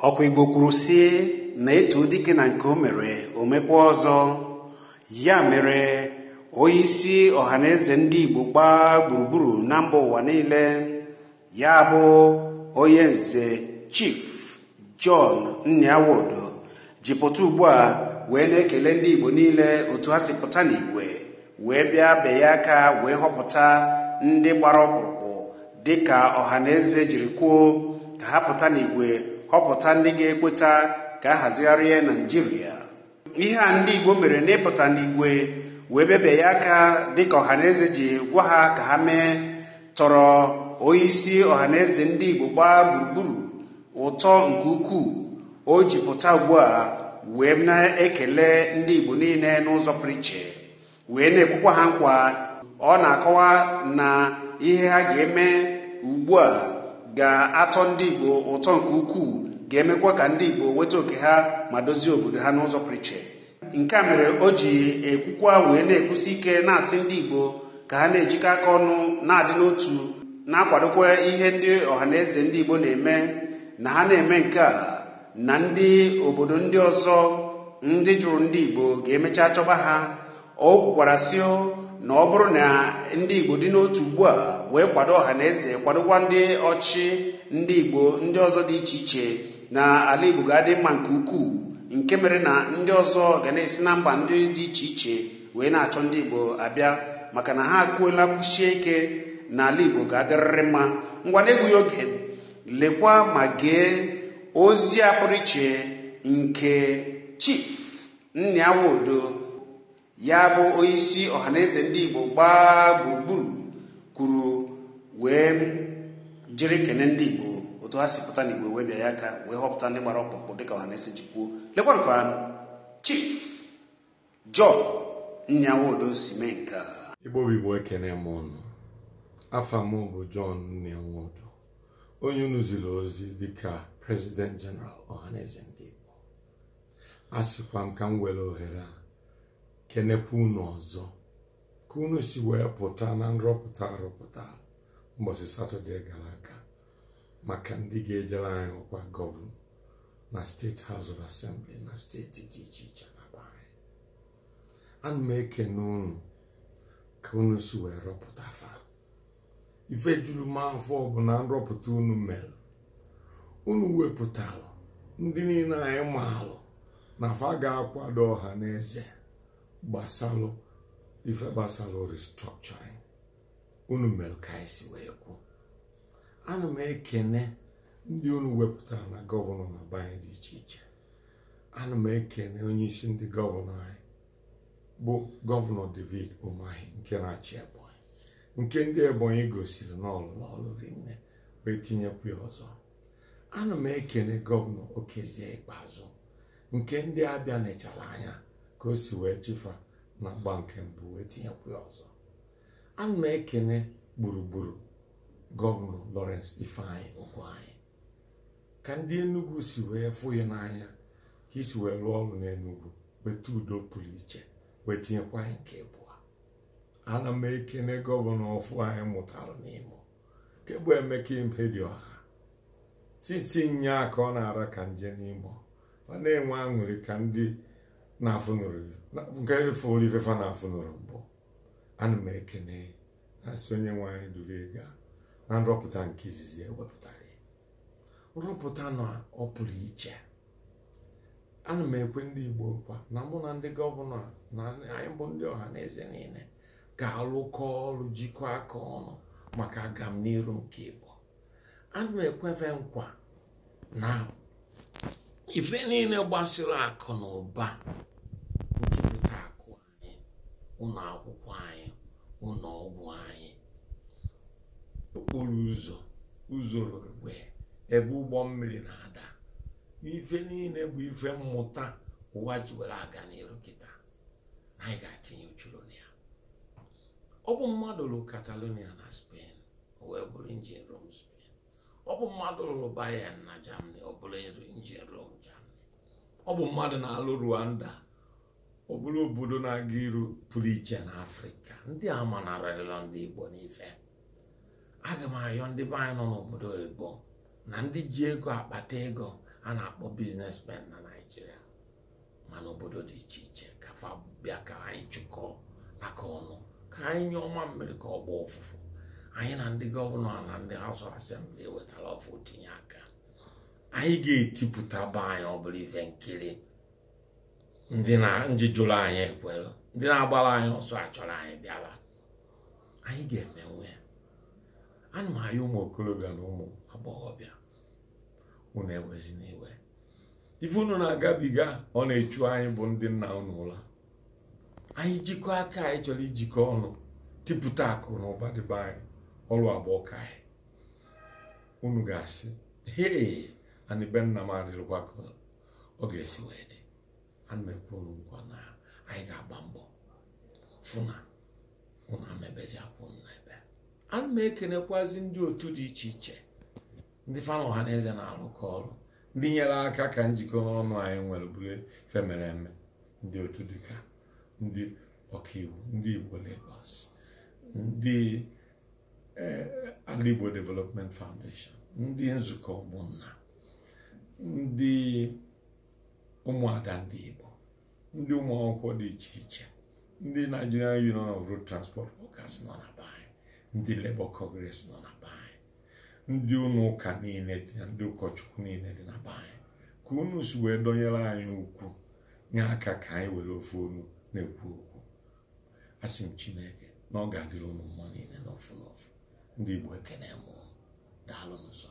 ọ kwa igbo kwuru sị na e too dike na nke o mere o mekwaa ọzọ ya mere onye isi ọhaneze ndị igbo gbaa gburugburu na mba ụwa niile ya bụ onye nze chief John Nnia Nwodo ji pụta ugbu a wee na-ekele ndị Igbo niile otu ha si pụta n'igwe wee bịa bie ya aka wee họpụta ndị gbara ọkpụrụkpụ dịka ọhaneze jiri kwuo ka ha pụta n'igwe họpụta ndị ga-ekweta ka a hazigharịa Naijiria ihe a ndị Igbo mere n'ịpụta n'igwe wee bịa bie ya aka dịka ọhaneze ji gwa ha ka ha mee tọrọ onyeisi ọhaneze ndị Igbo gbaa gburugburu ụtọ nke ukwuu o ji pụta ugbu a wee na-ekele ndị Igbo niile n'ụzọ pụrụ iche wee na-ekwekwa ha nkwa ọ na-akọwa na ihe ha ga-eme ugbu a ga-atọ ndị Igbo ụtọ nke ukwuu ga-emekwa ka ndị Igbo weta oke ha ma dozie obodo ha n'ụzọ pụrụ iche nke a mere o ji ekwukwa wee na-ekwusi ike na-asị ndị Igbo ka ha na-ejikọ aka ọnụ na-adị n'otu na-akwadokwa ihe ndị ọhaneze ndị Igbo na-eme na ha na-eme nke a na ndị obodo ndị ọzọ ndị jụrụ ndị Igbo ga-emecha chọba ha o kwukwara sị na ọ bụrụ na ndị Igbo dị n'otu ugbu a wee kwado ọhaneze kwadokwa ndị ọchị ndị Igbo ndị ọzọ dị iche iche na ala Igbo ga-adị mma nke ukwuu nke mere na ndị ọzọ ga na-esi na mba ndị dị iche iche wee na-achọ ndị Igbo abịa maka na ha akwụọla kwụsie ike na ala Igbo ga-adịrịrị mma ngwa n'egbughị oge lekwa ma gee ozi a pụrụ iche nke Chief Nnia Nwodo ya bụ onyeisi ọhaneze ndị Igbo gbaa gburugburu kwuru wee jiri kene ndị Igbo otu ha si pụta n'igwe wee bịa ya aka wee họpụta ndị gbara ọkpụrụkpụ dịka ọhaneze ji kwuo lekwanụ ka Chief John Nnia Nwodo si mee nke a Igbo bụ Igbo ekene m ụnụ afa m bụ John Nnia Nwodo onye unu ziri ozi dịka President General Ohanaeze ndị Igbo a sịkwa m ka m were ohere a kenekwa unu ọzọ ka unu si wee pụta na nrọpụta a rọpụta mbọsị Satọde gara aga maka ndị ga-ejere anyị ọkwa gọvanọ na State House of Assembly na steeti dị iche iche na be anyị ana m ekene unu ka unu si wee rọpụta fa ife juru m afọ bụ na nrọpụta unu mere unu wepụtalụ ndị niine anyị maalụ na fa ga-akwado ọha na eze gbasalụ ife gbasalụ restructuring unu mere ka anyị si wee kwuo ana m ekene ndị unu wepụtara na gọvanọ na be anyị dị iche iche ana m ekene onye isi ndị gọvanọ anyị bụ gọvanọ David Umahi nke na-achị Ebonyi nke ndị Ebonyi gosiri na ọ lụlụ ọlụ rinne wee tinyekwa ya ọzọ ana m ekene gọvanọ Okezie Ikpeazụ nke ndị Abịa nechara anya ka o si wee chị fa na agba nke mbụ wee tinyekwu ya ọzọ ana m ekene Gburugburu gọvanọ Lawrence Ifeanyi Ugwuanyi ka ndị Enugu si wee fụ gị n'anya ka i si wee lụọ ọrụ n'Enugu weta udo pụrụ iche wee tinyekwa gị nke abụọ ana m ekene gọvanọ ọfụ anyị mụtara n'Imo nke bụ Emeka Ihedioha since nyaa ka ọ na-ara ka nje n'Imo ọ na-enwe aṅụrị ka ndị na-afụnụrụ nke fụrụ ife fa na-afụnụrọ mbụ ana m ekene na-asị onye nwe anyị duru gị gaa na nrọpụta nke izizi e wepụtara gị nrọpụta na ọ pụrụ iche ana m ekwe ndị Igbo nkwa na mụ na ndị gọvanọ a, na anyị bụ ndị ọha na eze niine ga-alụkọ ọrụ jikọọ aka ọnụ maka agamniru nke Igbo ana m ekwe fa nkwa na ife niile gbasịrị akụ na ụba ntipụta akụ a ụnọ akwụkwọ anyị ụnọ ọgwụ anyị okporo ụzọ ụzọ railway ebe ụgbọ mmiri na-ada ife niine bụ ife mmụta ụwa ji were aga n'iru kịta na anyị ga-atinye uchu na ya ọ bụ mmadụ lụrụ Catalonia na Spain o wee bụrụ engine room Spain ọ bụ mmadụ lụrụ Bayern na Germany ọ bụrụ engine room Germany ọ bụ mmadụ na-alụ Rwanda ọ bụrụ obodo na-aga iru pụrụ iche na Afrịka ndị a amanarịrọ ndị Igbo n'ife aga m ayọ ndị be anyị nọ n'obodo oyibo na ndị ji ego akpata ego a na-akpọ businessmen na Naịjirịa ma n'obodo dị iche iche ka fa bịa ka anyị chịkọọ aka ọnụ ka anyị nyụọ mamịrị ka ọ gbaa ụfụfụ anyị na ndị gọvanọ na ndị House of Assembly e wetara ọfụ tinye aka anyị ga-etipụta be anyị ọ bụrụ ife nkiri ndị na ndị jụrụ anyị ekwere ndị na-agbara anyị ọsọ achọrọ anyị bịara anyị ga-emenwe ya ana m ayọ ụmụ okorobịa na ụmụ agbọghọbịa unu ewezina iwe ife unu na-agabiga ọ na-echu anyị bụ ndị nna unu ụla anyị jikọ aka anyị chọrọ ijikọ ọnụ tipụta akụ na ụba dị be anyị ọrụ agba ọka anyị unu ga-asị hee anị be nna m adịrịkwa ka ọ ga-esi wee dị ana m ekwe unu nkwa na anyị ga-agba mbọ fụ na unu ama ebezi akwa unu na-ebe ana m ekenekwazi ndị otu dị iche iche ndị fa na ọha na eze na-arụkọ ọrụ ndị nyere aka ka njikọ ọnụ anyị nwere bụrụ ife mere eme ndị otu dịka ndị ọkaiwu ndị igbo Lagos ndị eh, Alaigbo Development Foundation ndị nzukọ ụmụnna ndị ụmụada ndị Igbo ndị ụmụ akwụkwọ dị iche iche ndị Nigerian Union of Road Transport Workers nọ na be anyị ndị Labour Congress nọ na be anyị ndị ụlọ ụka niile dị na ndị ụkọchukwu niile dị na be anyị ka unu si wee dọnyere anyị ukwu nye aka ka anyị were ofu olu na-ekwu okwu asị m chineke na ọ ga-adịrị unu mma niile n'ofu n'ofu ndị igbo ekene m unu. daalụnụ sọ